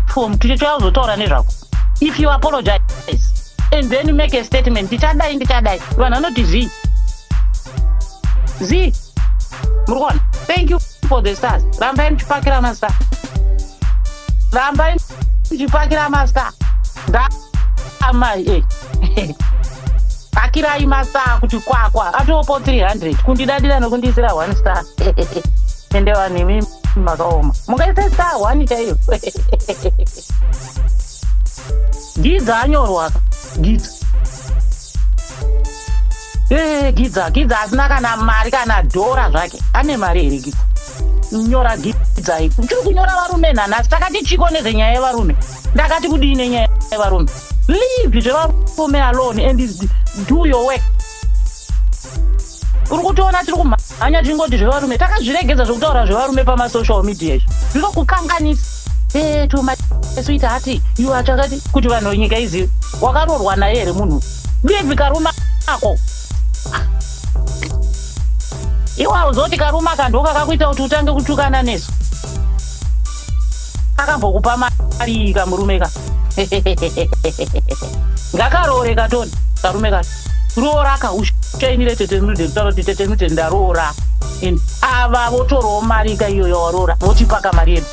form tichitouya kuzotaura nezvako if you apologize and then you make a statement ndichadai ndichadai vanhu vanoti zii zii muri kuona thank you for the stars rambai muchipakira mastar rambai muchipakira mastar ndaamai e eh. hakirai masaa kuti kwakwa atopo 300 kundidadira nokundiisira one star ende vanhu imi makaoma mungaisa star one chaiyo gidza anyorwa gidza ee gidza gidza asina kana mari kana dhora zvake ane mari here gidza nyora gidza ipo tiri kunyora varume nhanhasi takati chiko nezvenyaya yevarume ndakati kudii nenyaya yevarume leave zvevarume alone and do your work uri kutoona tiri kumhanya tichingoti zvevarume takazviregedza zvekutaura zvevarume pamasocial media izvo zvinokukanganisa eto masuita ati iwe achakati kuti vanhu venyika izivi wakarorwa naye here munhu leave karume ako iwe hauzoti karume akandoka kakuita kuti utange kutukana nesu akambokupa mari kamurume ka ngakaroore katoni karume ka roora ka ushainire tete nudeni taura kuti tete nudeni ndaroora and ava votorawo mari ka iyo yawaroora votipaka mari yedu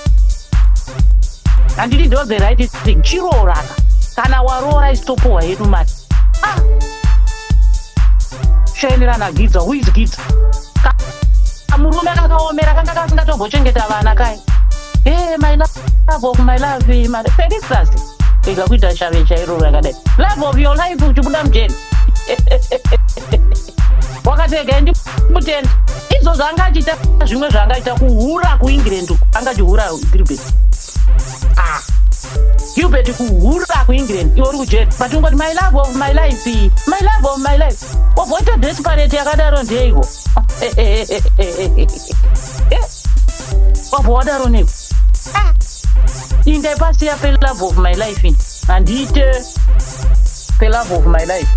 handiti ndo the right thing chirooraka kana waroora isitopuhwa yedu mari ah! shainira nagidza who is gidza kamurume kakaomera kanga kasingatombochengeta vana kai e my love of my love mari perisas ega kuita shave chairo rakadai love of your life uchibuda mujeni wakatega ndi mutenda izvo zvaanga achiita zvimwe zvaanga achiita kuhura kuengland uku anga achihura gilbert ah. gilbert kuhura kuengland iwe uri kujeri but ungoti my love of my life my love of my life Wagota desperate yakadaro ndeiko? Wabva wadaro neko. Indai pasi ya love of my life ini. Handite love of my life.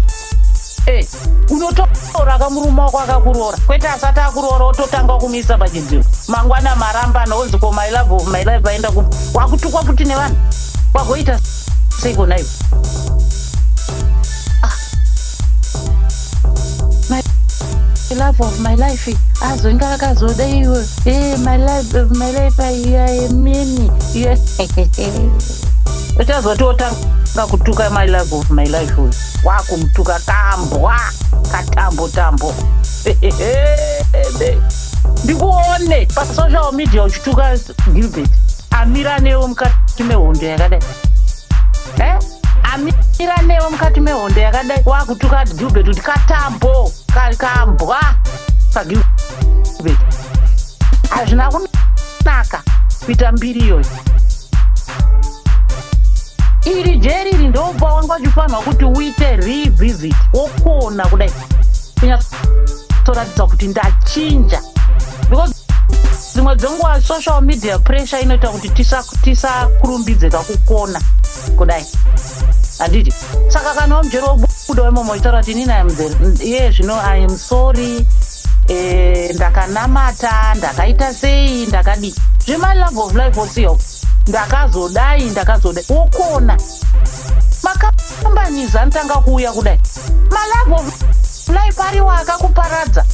Hey, unotora kamurume wako akakuroora kwete asati akuroora ototanga kumisa pachidziro mangwana marambana onzi ko my love of my life vaenda ku wakutukwa kuti nevanhu wagoita sei kona ivo love of my life azonga akazoda iwe eh, my life of my life ayamini uchazotiotanga kutuka my love of my life uyu wakumutuka kambwa katambo tambo ndikuone pasocial media uchituka gilbert amira newo mukati mehondo yakadai eh? amira newe mukati mehondo yakadai wakutuka gilbert kuti katambo kambwa kagilbert hazvina kunaka kuita mbiri iyoyo iri jeri iri ndopa wanga uchifanirwa kuti uite revisit wokuona kudai kunyatsoratidza kuti ndachinja because dzimwe dzenguva social media pressure inoita kuti tisakurumbidze tisa kakukona kudai handiti saka kana wamujero wobuda wemomo uchitaura kuti inini iam iye zvino iam sorry eh, ndakanamata ndakaita sei ndakadii zvema love of life osiyo ndakazodai ndakazodai wokona makambanizi anotanga kuuya kudai malove of life ariwo akakuparadza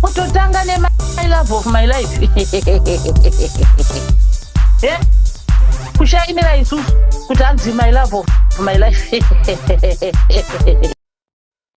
kutotanga nema my love of my life Eh? kushaimira isusu kuti hanzi my love of my life